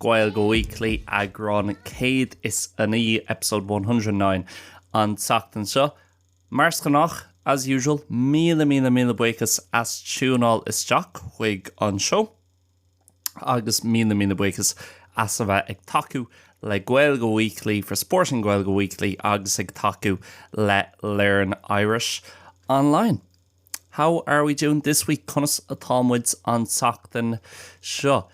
Gaeilge Weekly, eagrán céad is a naoi, episode 109, an tseachtain seo. Mar is gnách, as usual, míle míle míle buíochas as tiúnáil isteach chuig an seó agus míle míle buíochas as a bheith ag tacú le Gaeilge Weekly for supporting Gaeilge Weekly agus ag tacú le Learn Irish Online. How are we doing this week? Conas atá muid an tseachtain seo?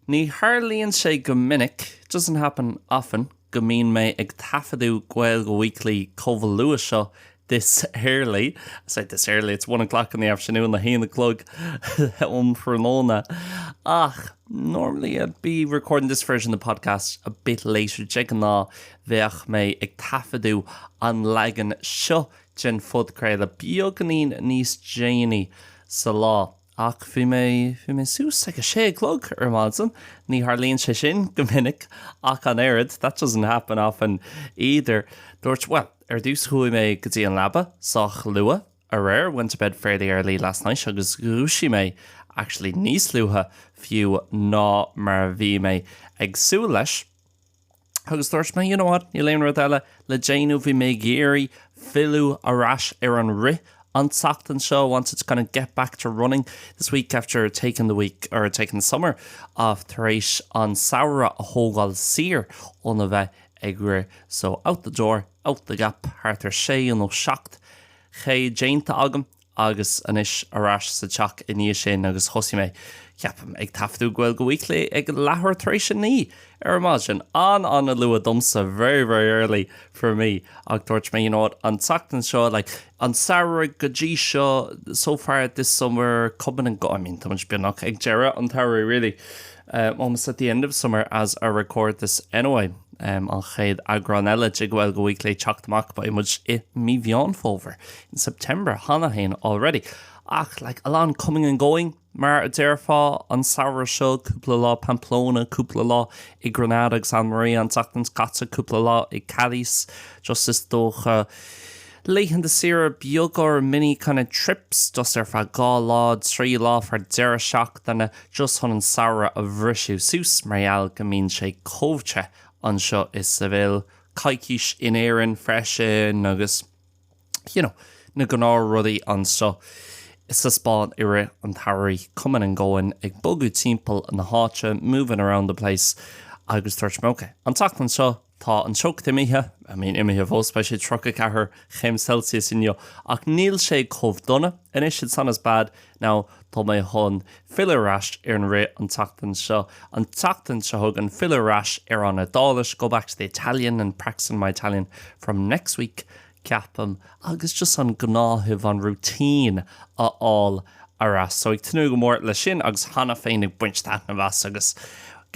Ní tharlaíonn sé go minic, doesn't happen often, go mbíonn mé ag taifeadadh Gaeilge Weekly chomh luath seo, this early. I say this early, it's one o'clock in the afternoon, a haon a chlog um thráthnóna. Ach, normally I'd be recording this version of the podcast a bit later, de ghnáth bheadh mé ag taifeadadh an leagan seo den phodchraoladh beagáinín níos déanaí sa lá ach bhí mé, bhí mé suas ag a sé a chlog ar maidin, ní tharlaíonn sé sin go minic ach an oiread, that doesn't happen often either. Dúirt, bhuel, ar dtús chuaigh mé go dtí an leaba sách luath aréir, went to bed fairly early last night, agus dhúisigh mé actually níos luaithe fiú ná mar a bhí mé ag súil leis. Agus dúirt mé, you know what, níl aon rud eile le déanamh, bhí mé ag iarraidh filleadh ar ais ar an rith an tseachtain seo, wanted to kind of get back to running this week after taking the week or taking the summer off tar éis an samhradh a thógáil saor óna bheith ag rith. So out the door, out the gap, thart ar sé nó seacht K déanta agam. Agus anois ar ais sa teach i ndiaidh sin agus thosaigh mé, ceapaim, ag taifeadadh Gaeilge Weekly ag leathuair tar éis a naoi ar maidin. An-an-luath domsa, very, very early for me. Ach dúirt mé, you know what, an tseachtain seo, like, an samhradh go dtí seo, so far this summer, coming and going, I mean, táimid beagnach ag deireadh an tsamhraidh, really, almost at the end of summer as I record this anyway. An chéad eagrán eile de Gaeilge Weekly ag teacht amach, beidh muid i mí Mheán Fómhair. in September, cheana féin, already. Ach, like, a lot of coming and going, mar a déarfá, an samhradh seo, cúpla lá Pamplona, cúpla lá i Granada agus Almería, an tseachtain seo caite, cúpla lá i Cádiz, just is dócha, laethanta saoire beaga or mini kind of trips, just ar feadh dhá lá, trí lá, ar feadh deireadh seachtaine, just chun an samhradh a bhriseadh suas, mar gheall go mbíonn sé chomh te anseo i Seville, coicís in Éirinn freisin agus. you know, na gnáthrudaí anseo sa Spáinn i rith an tsamhraidh, coming and going, ag bogadh timpeall na háite, moving around the place, agus dúirt mé ok, an tseachtain seo tá an teocht imithe, I mean imithe síos, fós, beidh sé 34 chéim Celsius inniu, ach níl sé chomh dona anois, it's not as bad, Now, tá mé chun filleadh ar ais ar an rith an tseachtain seo, an tseachtain seo chugainn, filleadh ar ais ar an Iodáilis, go back to the Italian and practicing my Italian from next week, ceapaim, agus just an gnáthamh, an routine a fháil ar ais. So, ag tnúth go mór leis sin agus cheana féin ag baint taitneamh as agus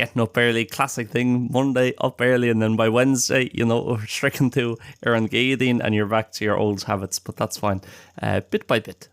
getting up early, classic thing, Monday, up early and then by Wednesday, you know, sroicheann tú an Chéadaoin and you're back to your old habits, but that's fine, bit by bit.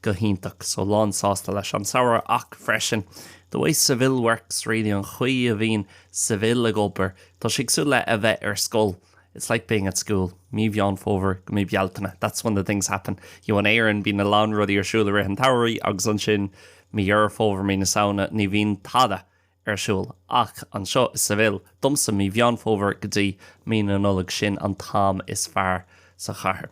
go hiontach, so lánsásta leis an samhradh ach freisin the way Seville works really, an chaoi a bhíonn Seville ag obair, tá sé cosúil le bheith ar scoil it's like being at school mí Mheán Fómhair go mí Bealtaine that's when the things happen, you know in Éirinn bíonn a lán rudaí ar siúl i rith an tsamhraidh agus ansin mí Dheireadh Fómhair, mí na Samhna ní bhíonn tada ar siúl ach anseo i Seville, domsa mí Mheán Fómhair go dtí mí na Nollag sin an t-am is fearr sa chathair.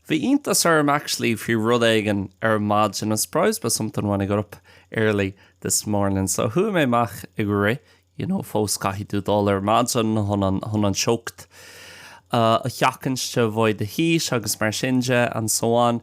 Bhí iontas orm actually faoi rud éigin ar maidin I was surprised by something when I got up early this morning so chuaigh mé amach ag rith you know fós caithfidh tú dul ar maidin chun an teocht a sheachaint to avoid the heat agus mar sin de and so on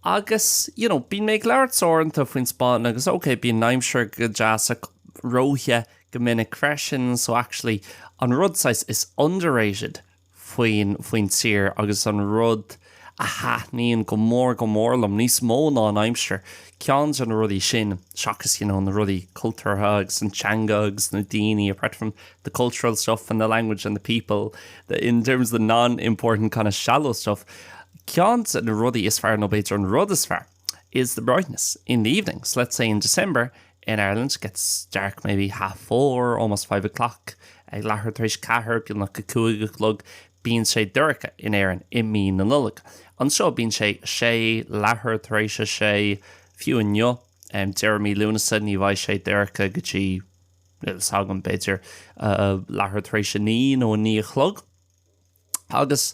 agus you know bíonn mé ag labhairt uaireanta faoin Spáinn agus ok bíonn an aimsir go deas ach róthe go minic freisin so actually an rud saghas is underrated faoin tír agus an rud a thaitníonn go mór go mór liom, níos mó ná an aimsir, ceann de na rudaí sin, seachas you know na rudaí cultúrtha agus an teanga agus na daoine apart from the cultural stuff and the language and the people in terms of the non-important kind of shallow stuff ceann de na rudaí is fearr nó b'fhéidir an rud is fearr is the brightness in the evenings, so let's say in December in Ireland gets dark maybe half four, almost five o'clock, ag leathuair tar éis a ceathair, beagnach a cúig a chlog, bíonn sé dorcha in Éirinn i mí na Nollag. Anseo bíonn sé sé, leathuair tar éis a sé, fiú inniu, deireadh mí Lúnasa, ní bheidh sé dorcha go dtí, níl 's agam, b'fhéidir, leathuair tar éis a naoi nó a naoi a chlog. Agus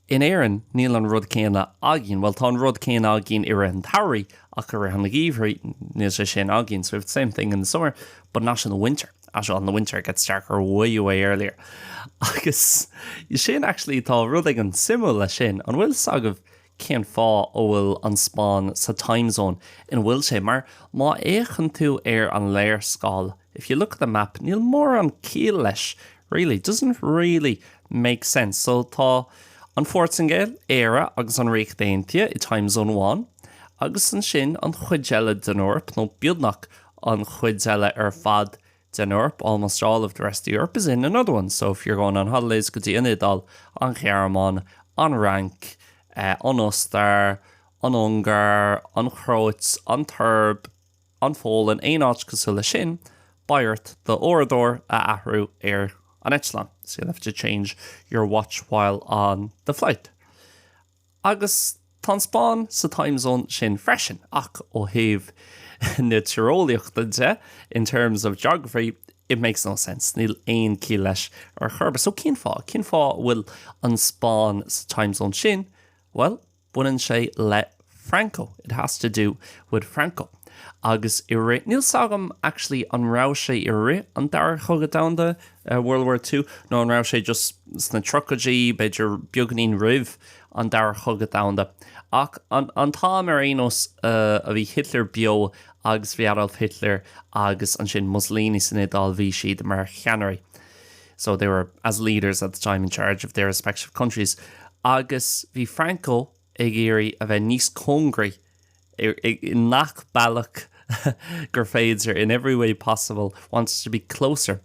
in Éirinn, níl an rud céanna againn, bhuel, tá an rud céanna againn i rith an tsamhraidh, ach i rith an gheimhridh, níl sé sin againn, so we have the same thing in the summer, but not in the winter, as in the winter it gets darker way away earlier. Agus sin, actually, tá rud éigin suimiúil leis sin, an bhfuil 's agaibh, cén fáth a bhfuil an Spáinn sa time zone ina bhfuil sé, mar má fhéachann tú ar an léarscáil if you look at the map níl mórán ciall leis really, doesn't really make sense. So tá an Phortaingéil, Éire agus an Ríocht Aontaithe i time zone one agus ansin an chuid eile den Eoraip nó beagnach an chuid eile ar fad i den Eoraip, almost all of the rest of the Europe is in another one, so if you're going on holidays go dtí an Iodáil, an Ghearmáin, an Fhrainc, an Ostair, an Ungáir, an Chróit, an tSoirb, an Pholainn, aon áit cosúil leis sin, beidh ort d'uaireadóir a athrú ar an eitleán, so you'll have to change your watch while on the flight. Agus tá an Spáinn sa time zone sin freisin, ach ó thaobh na tíreolaíochta de, in terms of geography, it makes no sense, níl aon ciall leis ar chor ar bith. So cén fáth? Cén fáth a bhfuil an Spáinn sa time zone sin? Bhuel, baineann sé le Franco, it has to do with Franco. Agus i rith, níl 's agam actually an raibh sé i rith an Dara Cogadh Domhanda World War Two nó an raibh sé just sna tríochaidí, b'fhéidir beagainín roimh an Dara Cogadh Domhanda. Ach an t-am ar aon nós a bhí Hitler beo agus bhí Adolf Hitler agus ansin Mussolini san Iodáil bhí siad mar cheannairí so they were as leaders at the time in charge of their respective countries agus bhí Franco ag iarraidh a bheith níos cóngaraí i ngach bealach gur féidir in every way possible, wants to be closer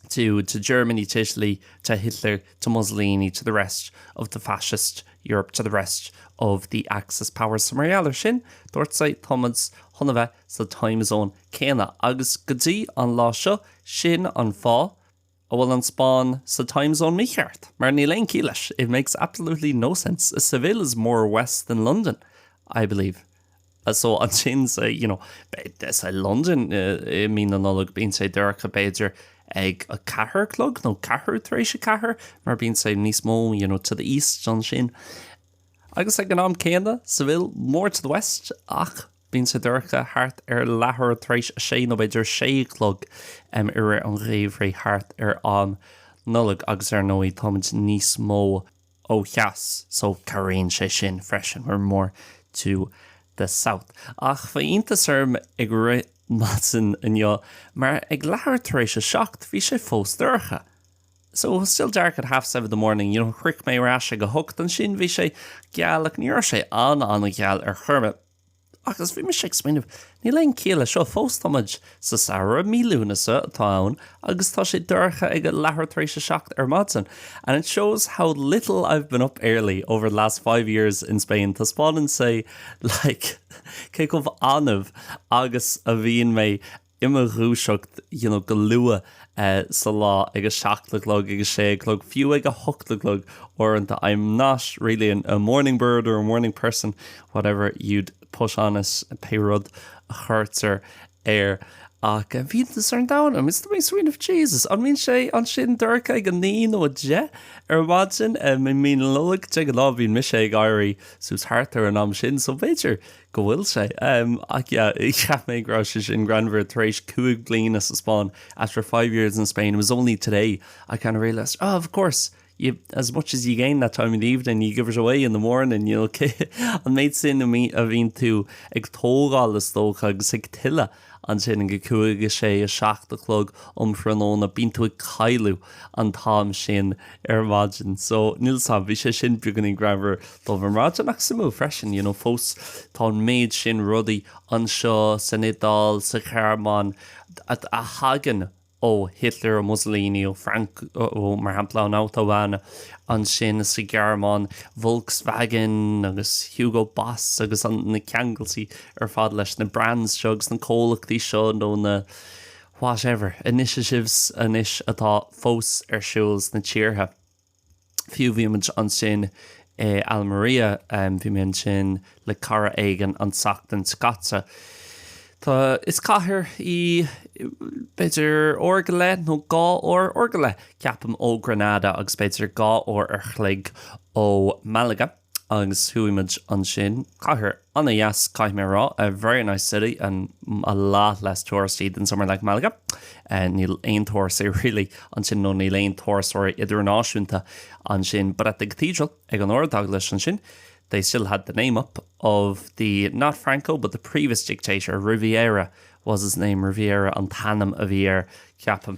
to to Germany, to Italy, to Hitler, to Mussolini, to the rest of the fascist Europe, to the rest of the Axis powers. So mar gheall ar sin, dúirt said Thomas chun a bheith sa time zone céanna. Agus go dtí an lá seo, sin an fáth, An bhfuil an Spáinn sa time zone mícheart? Mar níl aon ciall leis, it makes absolutely no sense. Seville is more west than London, I believe. So ansin, so, you know, say London i mí na Nollag, bíonn sé dorcha b'fhéidir ag a ceathair a chlog nó ceathrú tar éis a ceathair mar bíonn sé níos mó, you know, to the east ansin. Agus ag an am céanna, Seville more to the west ach Bíonn sé dorcha thart ar leathuair tar éis a sé nó b'fhéidir sé a chlog i rith an gheimhridh thart ar an Nollaig agus ar ndóigh táimid níos mó ó theas so cabhraíonn sé sin freisin, we're more to the south. Ach bhí iontas orm ag rith ar maidin inniu mar ag leathuair tar éis a seacht bhí sé fós dorcha. so it was still dark at half seven in the morning you know shroich mé ar ais ag a hocht ansin bhí sé geal ach ní raibh sé an an gheal ar chor ar bith agus bhí mise ag smaoineamh níl aon ciall leis seo fós tá muid sa samhradh mí Lúnasa atá ann agus tá sé dorcha ag a leathuair tar éis a seacht ar maidin and it shows how little I've been up early over the last five years in Spain taispeánann sé like cé chomh annamh agus a bhíonn mé i mo dhúiseacht you know go luath sa lá ag a seacht a chlog, ag a sé a chlog, fiú ag a hocht a chlog uaireanta I'm not really a morning bird or a morning person, whatever you'd put on it, pé rud a chuirtear air. Ach bhí iontas an domhain orm, is dúirt mé sweet of Jesus, an mbíonn sé ansin dorcha ag a naoi nó a deich ar maidin i mí na Nollag? De ghnáth bíonn mise ag éirí suas thart ar an am sin so b'fhéidir go bhfuil sé. Ach yeah, cheap mé go raibh sé sin greannmhar, tar éis cúig bliana sa Spáinn, after five years in Spain, it was only today I kind of realised, oh of course, you, as much as you gain that time in the evening, you give it away in the morning, you know, an méid sin a bhíonn tú ag tógáil is dócha agus ag tuilleadh. Ansin a cúig, a sé, a seacht a chlog um thráthnóna, bíonn tú ag cailliúint an t-am sin ar maidin. So, níl fhios a'm, bhí sé sin beagáinín greannmhar domh ar maidin ach suimiúil freisin, you know, fós tá an méid sin rudaí anseo san Iodáil, sa Ghearmáin a thagann ó Hitler, ó Mussolini, ó Franco, mar shampla, an Autobahn, ansin sa Ghearmáin, Volkswagen agus Hugo Boss agus an, na ceangailtí ar fad leis na brands seo agus na comhlachtaí seo nó na whatever initiatives anois atá fós ar siúl sna tíortha. Fiú bhí muid ansin i Almería, bhí mé ansin le cara éigin an tseachtain seo caite. Tá, is cathair í, b'fhéidir uair go leith nó dhá uair, uair go leith, ceapaim, ó Granada agus b'fhéidir dhá uair an chloig ó Málaga. Agus chuaigh muid ansin. Cathair an-deas, caithfidh mé a rá. A very nice city and a lot less touristy than somewhere like Malaga. Níl aon tourists really ansin nó níl aon turasóirí idirnáisiúnta ansin but at the cathedral, ag an ardeaglais ansin they still had the name up of the, not Franco, but the previous dictator, Riviera was his name, Riviera an t-ainm a bhí air, ceapaim.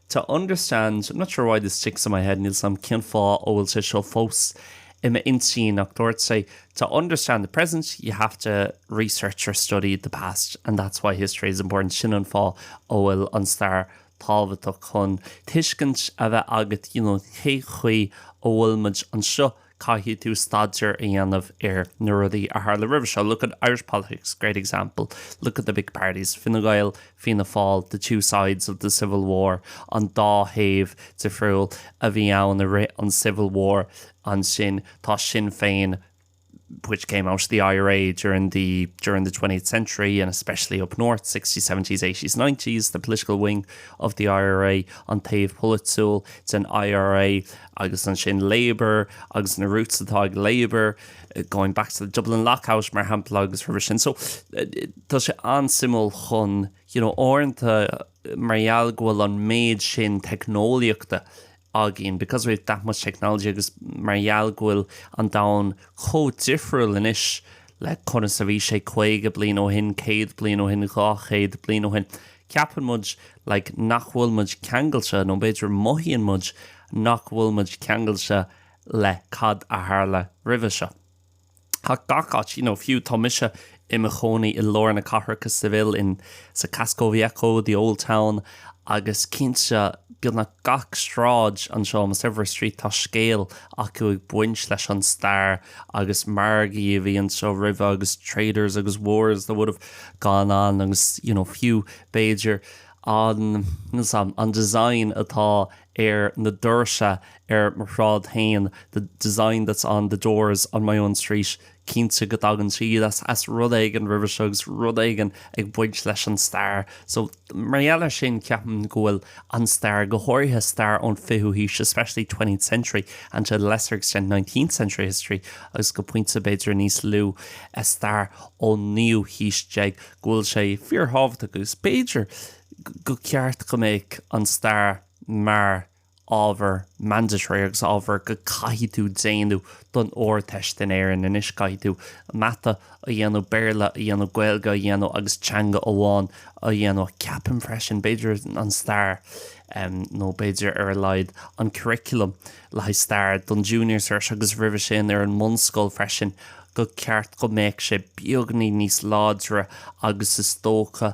to understand, I'm not sure why this sticks in my head, níl 's a'm cén fáth a bhfuil sé seo fós i m'intinn ach dúirt sé to understand the present you have to research or study the past and that's why history is important, sin an fáth a bhfuil an stair tábhachtach chun tuiscint a bheith agat you know cé chaoi a bhfuil muid anseo. caithfidh tú staidéar a dhéanamh ar na rudaí a tharla roimhe seo, look at Irish politics, great example, look at the big parties, Fine Gael, Fianna Fáil, the two sides of the Civil War, an dá thaobh difriúil a bhí ann i rith an Civil War, ansin tá Sinn Féin, which came out of the IRA during the twentieth century and especially up north, sixties, seventies, eighties, nineties, the political wing of the IRA, an taobh polaitiúil den IRA, agus ansin Labour agus na roots atá ag Labour, going back to the Dublin lockout mar shampla agus roimhe sin. So tá sé an-suimiúil chun, you know, uaireanta mar gheall go bhfuil an méid sin teicneolaíochta againn, because we have that much technology agus mar gheall go bhfuil an domhan chomh difriúil anois le conas a bhí sé 50 bliain ó shin, 100 bliain ó shin, 200 bliain ó shin, ceapann muid like nach bhfuil muid ceangailte nó b'fhéidir mothaíonn muid nach bhfuil muid ceangailte le cad a tharla roimhe seo ach gach áit you know fiú tá mise i mo chónaí i lár na cathrach Seville insa Casco Viejo the old town agus cinnte beagnach gach sráid anseo almost every street tá scéal acu ag baint leis an stair agus margaí a bhí anseo roimhe agus traders agus wars that would have gone on agus you know fiú b'fhéidir an an design atá ar na doirse ar mo shráid féin the design that's on the doors on my own street cinnte go dtagann siad as as rud éigin roimhe seo agus rud éigin ag baint leis an stair so Mar gheall air sin, ceapaim go bhfuil an stair, go háirithe stair ón fichiú haois, especially twentieth century and to a lesser extent nineteenth century history, agus go pointe b'fhéidir níos lú stair ón naoú haois déag, go bhfuil sé fíorthábhachtach agus b'fhéidir gur cheart go mbeadh an stair mar. ábhar mandatory agus ábhar go gcaithfidh tú déanamh don Ardteist in Éirinn anois, caithfidh tú mata a dhéanamh, Béarla a dhéanamh, Gaeilge a dhéanamh agus teanga amháin a dhéanamh. Ceapaim freisin, b'fhéidir an stair nó b'fhéidir ar a laghad an curriculum le haghaidh stair don Junior Cert agus roimhe sin ar an mbunscoil freisin, gur cheart go mbeadh sé beagáinín níos láidre agus is dócha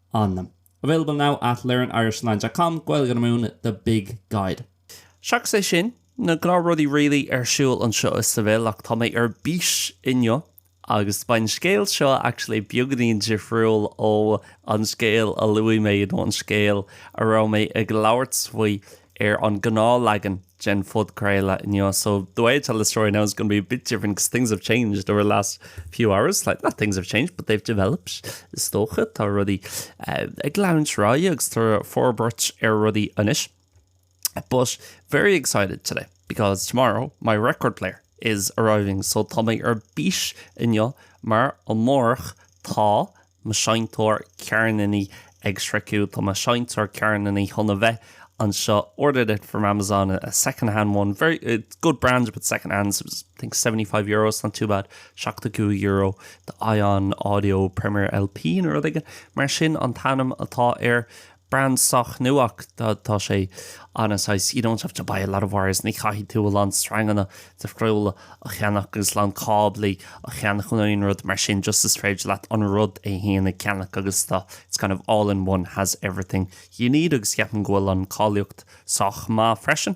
an. Available now at learnirishonline.com, Gaeilge Weekly, the big guide. Seachas é sin, na gnáthrudaí really ar siúl anseo i Seville ach tá mé ar bís inniu agus beidh an scéal seo actually beagáinín difriúil ó an scéal a luaigh mé nó an scéal a raibh mé ag labhairt faoi ar an ngnáthleagan den phodchraoladh inniu so the way I tell the story now is going to be a bit different because things have changed over the last few hours like not things have changed but they've developed is dócha tá rudaí ag gleanúint ráithe agus tá forbairt ar rudaí anois but very excited today because tomorrow my record player is arriving so tá mé ar bís inniu mar amárach tá mo sheinnteoir ceirníní ag sroicheadh Tá mo sheinnteoir ceirníní chun a bheith anseo ordered it from Amazon, a second-hand one, very good brand but second-hand, it was I think seventy five euro, it's not too bad, seachtó cúig euro do Ion Audio Premier LP nó rud éigin mar sin an t-ainm atá air. Brand sách nua ach tá sé an-easy, you don't have to buy a lot of wires, ní chaithfidh tú a lán sreanganna difriúla a cheannach agus a lán cáblaí a cheannach nó aon rud mar sin, just is féidir leat an rud é fhéin a cheannach agus tá, it's kind of all in one, has everything you need agus ceapaim go bhfuil an cáilíocht sách maith freisin.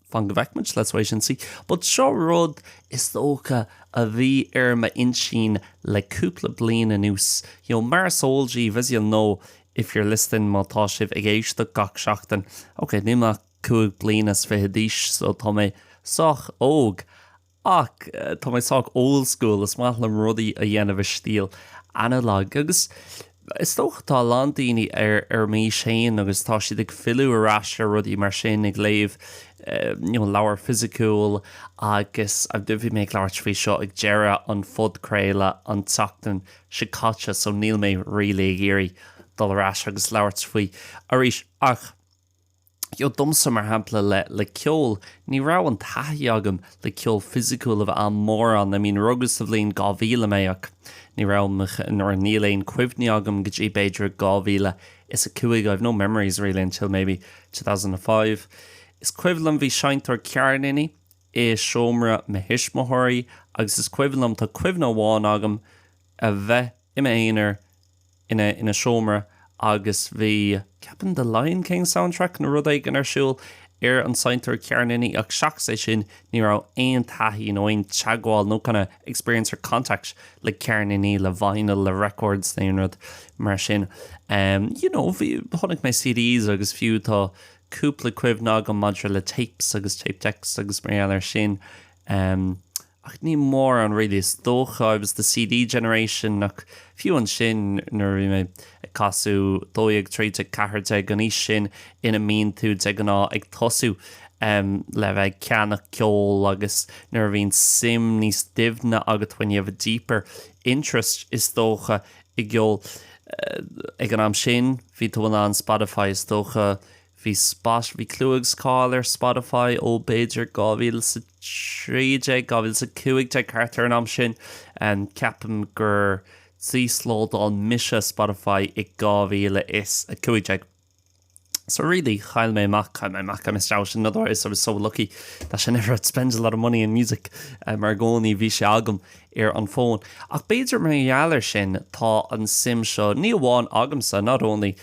Fan go bhfeicimid, let's wait and see, but seo rud, is dócha, a bhí ar m'intinn le cúpla bliain anuas. You know, mar is eol díbh, as you'll know if you're listening, má tá sibh ag éisteacht gach seachtain, okay, nílim ach cúig bliana is fiche d'aois, so tá mé sách óg, Ach tá mé sách old school, is maith liom rudaí a dhéanamh i stíl analog agus is dócha tá a lán daoine ar m'aois féin agus tá siad ag filleadh ar ais ar rudaí mar sin, ag léamh you know leabhar fisiciúil agus I don't know bhí mé ag labhairt faoi seo ag deireadh an phodchraoladh an tseachtain seo caite so níl mé really ag iarraidh dul ar ais agus labhairt faoi arís ach dheo domsa, mar shampla, le le ceol, ní raibh an taithí agam le ceol fisiciúil a bheith an-mhór ann, I mean rugadh sa bhliain 2000 mé ach ní raibh nó, níl aon cuimhní agam go dtí b'fhéidir 2005, I've no memories really until maybe 2005. Is cuimhin liom bhí seinnteoir ceirníní i seomra mo thuismitheoirí agus is cuimhin liom, tá cuimhne amháin agam a bheith i m'aonar ina ina seomra agus bhí, ceapaim, The Lion King soundtrack nó rud éigin ar siúl ar an seinnteoir ceirníní ach seachas é sin ní raibh aon taithí nó aon teagmháil nó kind of experience or contact le ceirníní, le vinyl, le records nó aon rud mar sin. You know, bhí, chonaic mé CDs agus fiú tá cúpla cuimhne agam maidir le tapes agus tape decks agus mar gheall ar sin. ach ní mórán really is dócha, I was the CD generation ach fiú ansin nuair a bhí mé ag casadh dó dhéag, trí déag, ceathair déag, an aois sin ina mbíonn tú de ghnáth ag tosú le bheith ag ceannach ceol agus nuair a bhíonn suim níos doimhne agat when you have a deeper interest is dócha i gceol eh ag an am sin bhí tú in ann Spotify is dócha Bhí s, bhí clú agus cáil ar Spotify ó b'fhéidir 2013, 2015 thart ar an am sin. Ceapaim gur d'íoslódáil mise Spotify i 2015. So really chaill mé amach, chaill mé amach, I missed out, in other words, I was so lucky that I never had to spend a lot of money on music mar i gcónaí bhí sé agam ar an fón. Ach b'fhéidir mar gheall ar sin tá an suim seo, ní amháin agamsa, not only,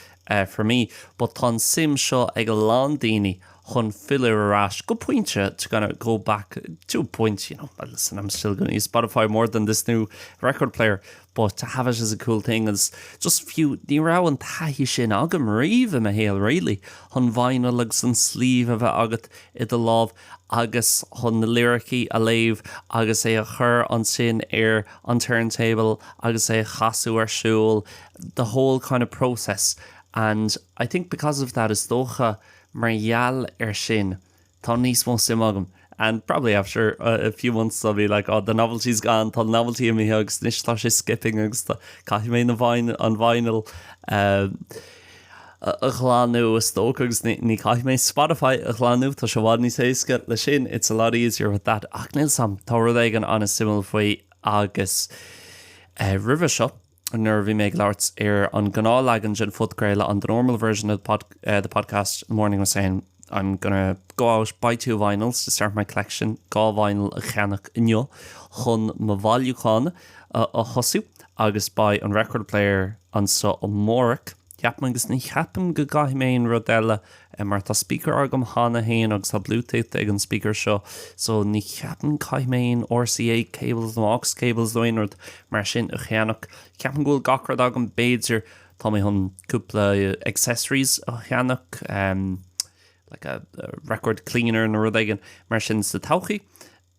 for me but tá an suim seo ag a lán daoine chun filleadh ar ais go pointe to kind of go back to a point you know well listen I'm still going to use Spotify more than this new record player but to have it as a cool thing agus just fiú ní raibh an taithí sin agam riamh i mo shaol really chun vinyl agus an sleeve a bheith agat i do lámh agus chun na liricí a léamh agus é a chur ansin ar an turntable agus é a chasadh ar siúl the whole kind of process and I think because of that is dócha mar gheall air sin tá níos mó suime agam and probably after a few months I'll be like oh the novelty's gone tá an novelty imithe agus anois tá sé skipping agus tá caithfidh mé an vinyl a ghlanadh is dócha agus ní chaithfidh mé Spotify a ghlanadh tá sé i bhfad níos éasca le sin it's a lot easier with that ach níl a fhios agam tá rud éigin an-suimiúil faoi agus roimhe seo nuair a bhí mé ag labhairt ar an ngnáthleagan den phodchraoladh on the normal version of the podcast the morning I was saying I'm gonna go out buy two vinyls to start my collection dhá vinyl a cheannach inniu chun mo bhailiúchán a thosú agus buy an record player anseo amárach Ceapaim agus ní cheapaim go gcaithfidh mé aon rud eile mar tá speaker agam cheana féin agus tá bluetooth ag an speaker seo so ní cheapaim go caithfidh mé aon RCA cables nó aux cables nó aon rud mar sin a cheannach. Ceapaim go bhfuil gach rud agam b'fhéidir tá mé chun cúpla accessories a cheannach em like a record cleaner nó rud éigin mar sin sa todhchaí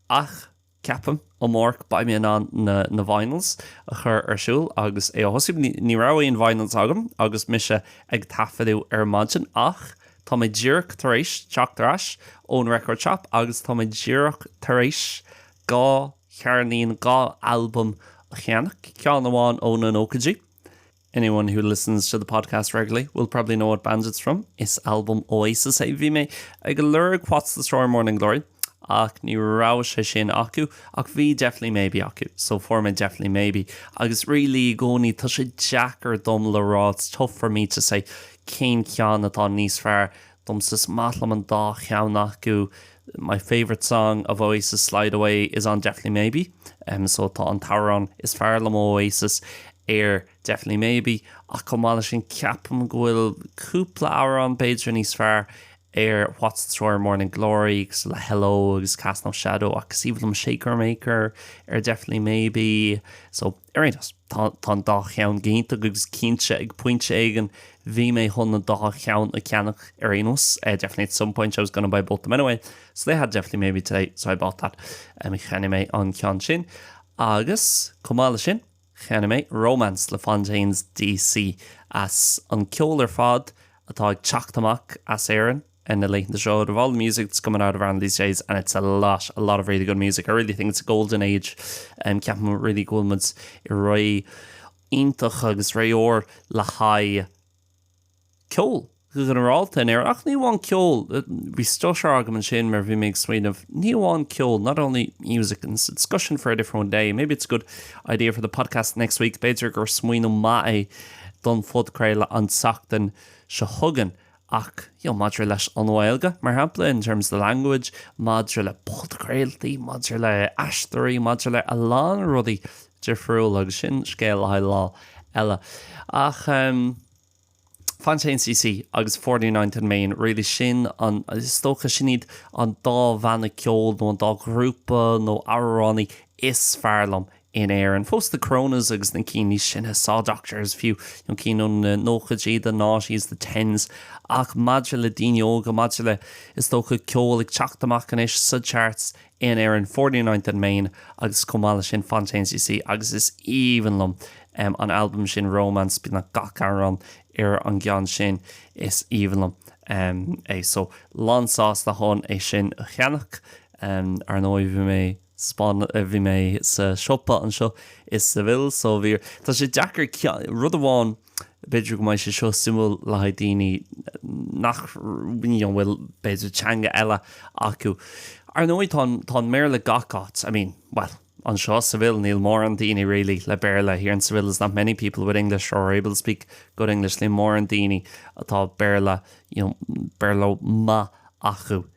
ach ceapaim, amárach beidh mé in ann na na vinyls a chur ar siúl agus é a thosú. Ní ní raibh aon vinyls agam agus mise ag taifeadadh ar maidin ach tá mé díreach tar éis teacht ar ais ón record shop agus tá mé díreach tar éis dhá cheirnín, dhá albam a cheannach, ceann amháin ó na nóchaidí. Anyone who listens to the podcast regularly will probably know what band it's from, is albam Oasis é. Bhí mé ag lorg What's the Story Morning Glory ach ní raibh sé sin acu ach bhí Definitely Maybe acu so fuair mé Definitely Maybe agus really i gcónaí tá sé deacair dom le rá it's tough for me to say cén ceann atá níos fearr Domsa, is maith liom an dá cheann acu. My favourite song of Oasis, Slide Away, is on Definitely Maybe, so tá an t-amhrán is fearr liom ó Oasis ar Definitely Maybe, ach chomh maith leis sin, ceapaim go bhfuil cúpla amhrán, b'fhéidir, níos fearr ar What's the Story, Morning Glory, agus le Hello agus Cast No Shadow, ach is aoibhinn liom Shaker Maker ar Definitely Maybe, so. Ar aon nós, tá an dá cheann go hiontach agus cinnte, ag pointe éigin, bhí mé chun an dá cheann a cheannach ar aon nós. Definitely at some point I was gonna buy both of them anyway, so they had Definitely Maybe today, so I bought that. Um, cheannaigh mé an ceann sin. Agus, chomh maith le sin, cheannaigh mé Romance le Fontaines DC as an ceol ar fad atá ag teacht amach as Éirinn. On the Late Late Show out of all the music that's coming out of Ireland these days and it's a lot, a lot of really good music. I really think it's a golden age. Um, ceapaim really go bhfuil muid i ré iontach agus ré óir le haghaidh ceol go ginearálta in Éirinn. Ach ní amháin ceol, bhí stutter agam ansin mar bhí mé ag smaoineamh, ní amháin ceol, not only music, and it's a discussion for a different day. Maybe it's a good idea for the podcast next week. B'fhéidir gur smaoineamh maith é don phodchraoladh an tseachtain seo chugainn. ach, you know, maidir leis an nGaeilge, mar shampla, in terms of the language, maidir le podchraoltaí, maidir le aisteoirí, maidir le a lán rudaí difriúla, agus sin scéal le haghaidh lá eile. Ach ehm, Fontaines DC agus Forty Ninth and Main, really sin an, is dócha sin iad an dá bhanna ceoil nó an dá ghrúpa nó amhránaí is fearr liom, in Éirinn fós the Coronas agus na cinn níos sine Saw Doctors fiú, nó cinn ó na nóchaidí the noughties, the tens ach maidir le daoine óga, maidir le, is dócha, ceol ag teacht amach anois sa charts in Éirinn Forty-Ninth and Main agus chomh maith leis sin Fontaines DC agus is aoibhinn liom an albam sin Romance beagnach gach amhrán ar an gceann sin is aoibhinn liom é so lánsásta chun é sin a cheannach. Ar ndóigh, bhí mé. Spáinn, bhí mé sa siopa anseo i Seville so bhí, tá sé deacair ceann, rud amháin, b'fhéidir go mbeidh sé seo suimiúil le haghaidh daoine nach, you know, bhfuil b'fhéidir teanga eile acu. Ar ndóigh tá an, tá Béarla gach áit, I mean, bhuel, anseo i Seville níl mórán daoine really le Béarla, here in Seville there's not many people with English or are able to speak good English, níl mórán daoine atá Béarla, you know, Béarla maith acu.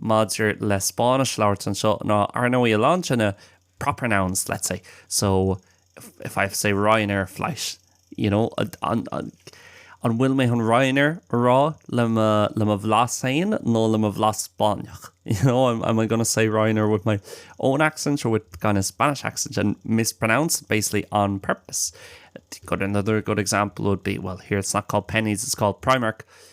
maidir le Spáinnis labhairt anseo ná, ar ndóigh, a lán de na proper nouns, let's say, so, if I have to say Ryanair flight, you know, an bhfuil mé chun Ryanair a rá le mo, le mo bhlas féin nó le mo bhlas Spáinneach, you know, am, am I gonna say Ryanair with my own accent or with kind of Spanish accent and mispronounce it basically on purpose? Good, another good example would be, well, here it's not called Penneys, it's called Primark.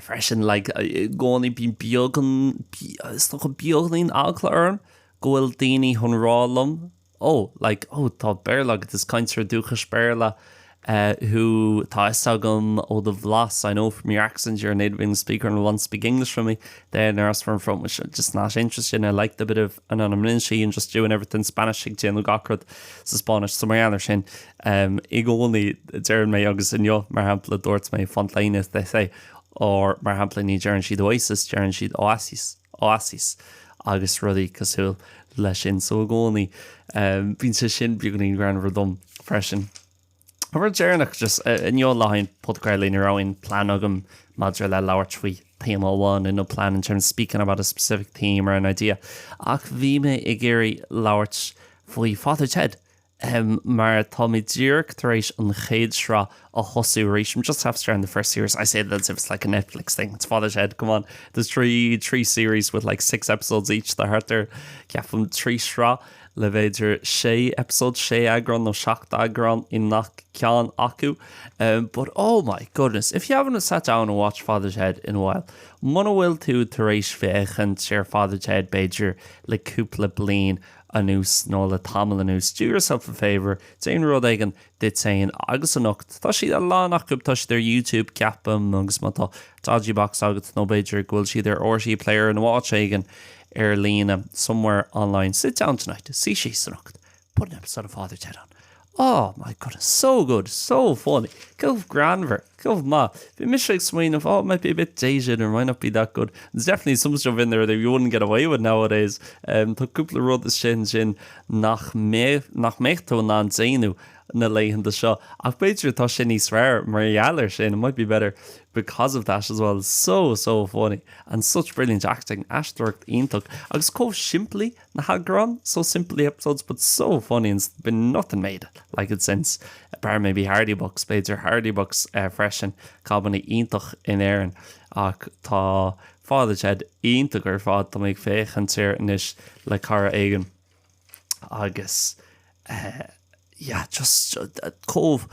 freisin, like, i gcónaí bíonn beagán, is dócha beagainín eagla orm go bhfuil daoine chun rá liom, oh, like, oh, tá Béarla agat, is cainteoir dúchais Béarla é thú, tá a fhios agam ó do bhlas, I know from your accent you're a native English speaker and want to speak English with me. And there's just some I'm just not interested, I like the bit of anonymity and just doing everything Spanish ag déanamh gach rud sa Spáinnis. So mar gheall air sin, um, i gcónaí deireann mé agus inniu, mar shampla, dúirt mé Fontaines, as they say, or mar shampla ní deireann siad oasis, deireann siad oasis, oasis agus rudaí cosúil leis sin. So i gcónaí, um, bíonn sé sin beagainín greannmhar dom freisin. An rud deireanach, just inniu le haghaidh an phodchraolta ní raibh aon plean agam maidir le labhairt faoi théama amháin, no plan in terms of speaking about a specific theme or an idea, ach bhí mé ag iarraidh labhairt faoi Father Ted, mar tá mé díreach tar éis an chéad sraith a thosú arís, I'm just after starting the first series, I say that as if it's like a Netflix thing, it's Father Ted, come on, there's three, three series with like six episodes each, tá thart ar, ceapaim, trí shraith. le bhféidir sé eipeasóid, sé eagrán nó seacht eagrán i ngach ceann acu. But oh my goodness, if you haven't sat down and watched Father Ted in a while, muna bhfuil tú tar éis féachaint ar Father Ted b'fhéidir le cúpla bliain anuas nó le tamall anuas, do yourself a favour, déan rud éigin duit féin agus anocht. Tá siad, a lán acu, tá siad ar YouTube ceapaim agus má tá dodgy box agat nó b'fhéidir go bhfuil siad ar RTÉ Player nó áit éigin ar líne, somewhere online, sit down tonight, suí síos anocht, put an episode of Father Ted on. Oh, my goodness, so good, so funny, chomh greannmhar! Chomh maith, bhí mise ag smaoineamh, oh, might be a bit dated, or might not be that good. There's definitely some stuff in there that you wouldn't get away with nowadays. Tá cúpla rud istigh ansin nach mbeadh tú in ann déanamh na laethanta seo. Ach b'fhéidir tá sé níos fearr mar gheall air sin, it might be better because of that as well. So, so funny and such brilliant acting, aisteoireacht iontach agus chomh simplí na heagráin So simply episodes but so funny and there's been nothing made like it since, bar maybe Hardy Bucks, b'fhéidir Hardy Bucks freisin, comedy iontach in Éirinn ach tá Father Ted iontach ar fad, tá mé ag féachaint air anois le cara éigin agus eh, yeah, just, chomh,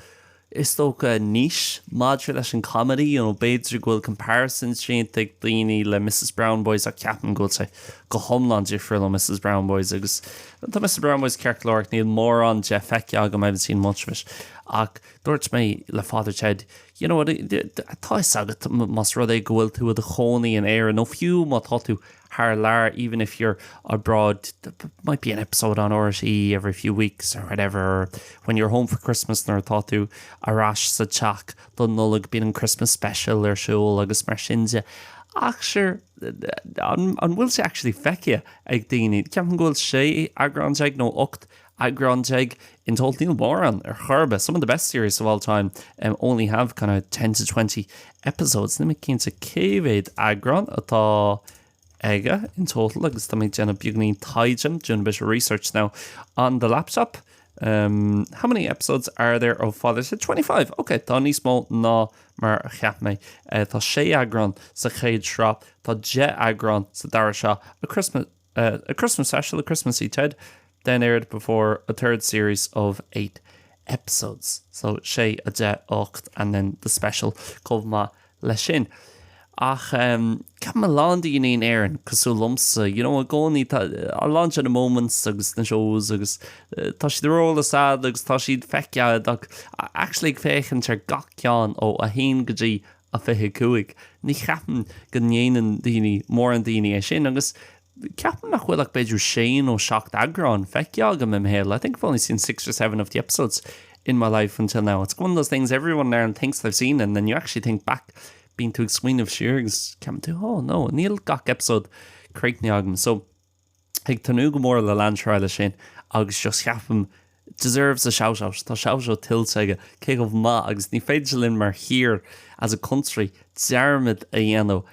is dócha anois maidir leis an comedy, you know, b'fhéidir go bhfuil comparisons déanta ag daoine le Mrs Brown Boys ach ceapaim go bhfuil sé go hiomlán difriúil le Mrs Brown Boys agus tá Mrs Brown Boys ceart go leor ach níl mórán de feicthe agam I haven't seen much of it ach dúirt mé le Father Ted you know, tá a fhios agat, más rud é go bhfuil tú i do chónaí in Éire nó fiú má tá tú thar lear even if you're abroad there might be an episode on RTÉ every few weeks or whatever or when you're home for Christmas nuair atá tú ar ais sa teach don Nollaig bíonn an Christmas special ar siúl agus mar sin de ach sure an bhfuil sé actually feicthe ag daoine? Ceapaim go bhfuil sé eagrán déag nó ocht Eagrán déag, In total níl mórán ar chor ar bith, some of the best series of all time um only have kind of ten to twenty episodes. Níl mé cinnte cé mhéad eagrán atá aige in total agus tá mé ag déanamh beagáinín taighde, doing a bit of research now on the laptop. Um, how many episodes are there of Father Ted? 25! Ok, tá níos mó ná mar a cheap mé. Eh, tá sé eagrán sa chéad sraith, tá deich eagrán sa dara seó, A Christmas. A Christmas Special, A Christmassy Ted, then aired before a third series of eight episodes, so 6, 10, 8 and then the special chomh maith leis sin. Ach ceapaim a lán daoine in Éirinn, cosúil liomsa, you know, i gcónaí tá a lán de na moments agus na shows agus tá siad ar eolas agat agus tá siad feicthe agat ach actually ag féachaint ar gach ceann ó 1 go dtí A25, Ní cheapaim go ndéanann duine, mórán daoine é sin agus ceapaim nach bhfuil ach b'fhéidir sé nó seacht eagrán feicthe agam im' shaol, I think I've only seen six or seven of the episodes in my life until now. It's one of those things everyone in Ireland thinks they've seen and then you actually think back, bíonn tú ag smaoineamh siar agus ceapann tú oh no, níl gach episode críochnaithe agam. So. ag tnúth go mór le leanúint ar aghaidh leis sin agus just ceapaim deserves a shout out tá shout out tuillte aige cé chomh maith agus ní féidir linn mar thír as a country dearmad a dhéanamh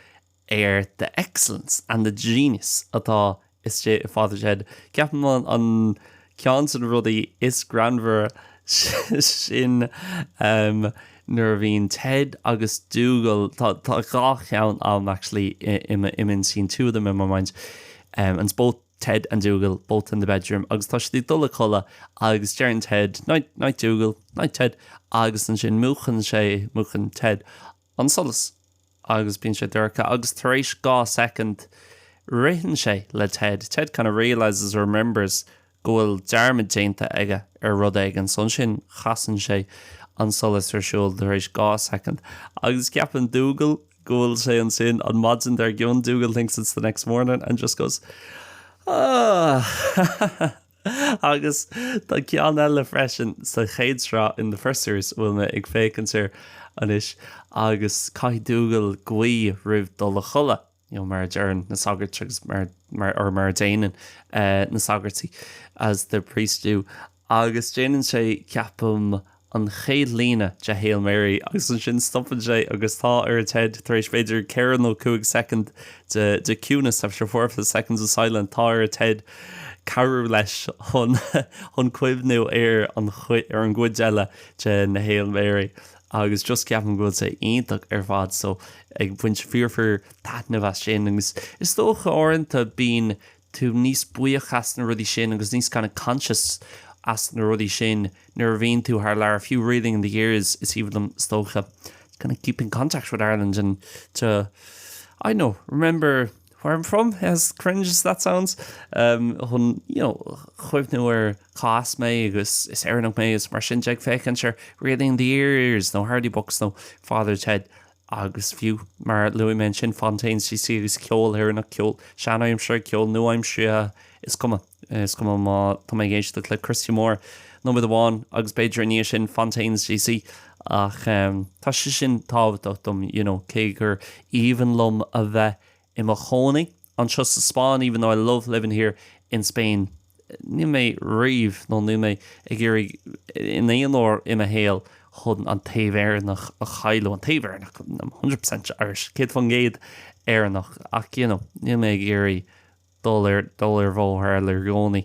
ar the excellence and the genius atá istigh i Father Ted ceapaim an ceann de na rudaí is greannmhar sin nuair a bhíonn Ted agus Dougal, tá dhá cheann agam actually i m'intinn, two of them in my mind and it's both Ted and Dougal, both in the bedroom agus tá siad ag dul a codladh agus deireann Ted, night, night Dougal, night Ted agus ansin múchann sé, múchann Ted an solas agus bíonn sé dorcha agus tar éis dhá second ritheann sé le Ted, Ted kind of realises, remembers, go bhfuil dearmad déanta aige ar rud éigin so ansin chasann sé an solas ar siúl tar éis dhá second agus ceapann Dougal go bhfuil sé ansin an maidin dar gcionn Dougal thinks it's the next morning and just goes, ah! Agus tá ceann eile freisin sa chéad sraith, in the first series, a bhfuil mé ag féachaint ar anois agus caithfidh Dougal guí roimh dul a chodladh, you know mar a deireann na sagairt agus mar, mar, or mar a déanann na sagairtí, as the priests do, agus déanann sé, ceapaim, an chéad líne de Hail Mary agus ansin stopann sé agus tá ar Ted tar éis b'fhéidir ceithre nó cúig second de de ciúnas after four or five seconds of silence tá ar Ted cabhrú leis chun chun cuimhniú ar an ar an gcuid eile de na Hail Mary agus just ceapaim go bhfuil sé iontach ar fad so ag baint fíor fíor taitneamh as sin agus is dócha uaireanta bíonn tú níos buíoch as na rudaí sin agus níos kind of conscious as na rudaí sin nuair a bhíonn tú thar lear, agus fiú Reeling in the Years is aoibhinn liom is dócha, kind of keeping contact with Ireland and to, I don't know, remember where I'm from, as cringe as that sounds, chun, you know, chuimhniú ar cá as mé agus is Éireannach mé agus mar sin de ag féachaint ar Reeling in the Years nó Hardy Bucks nó Father Ted. agus fiú, mar a luaigh mé, ansin Fontaines DC agus ceol Éireannach, ceol seanaimseartha, ceol nua-aimseartha, is cuma. Is cuma má tá mé ag éisteacht le Christy Moore nóiméad amháin agus b'fhéidir i ndiaidh sin Fontaines DC ach tá sé sin tábhachtach dom, you know, cé gur aoibhinn liom a bheith i mo chónaí. anseo sa Spáinn even though I love living here in Spain ní mé riamh nó níl mé ag iarraidh in aon uair i mo shaol chun an taobh Éireannach a chailleadh an taobh Éireannach I'm one hundred percent Irish céad fán gcéad Éireannach ach you know níl mé ag iarraidh dul ar dul ar bhóthar eile i gcónaí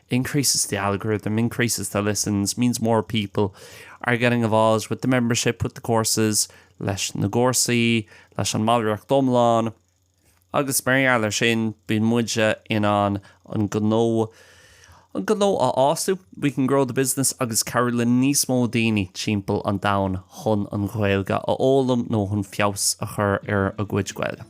increases the algorithm, increases the listens, means more people are getting involved with the membership, with the courses leis na gcúrsaí, leis an mballraíocht iomlán agus mar gheall ar sin bíonn muide in ann an gnó an gnó a fhású, we can grow the business agus cabhrú le níos mó daoine timpeall an domhain chun an Ghaeilge a fhoghlaim nó chun feabhas a chur ar a gcuid Gaeilge.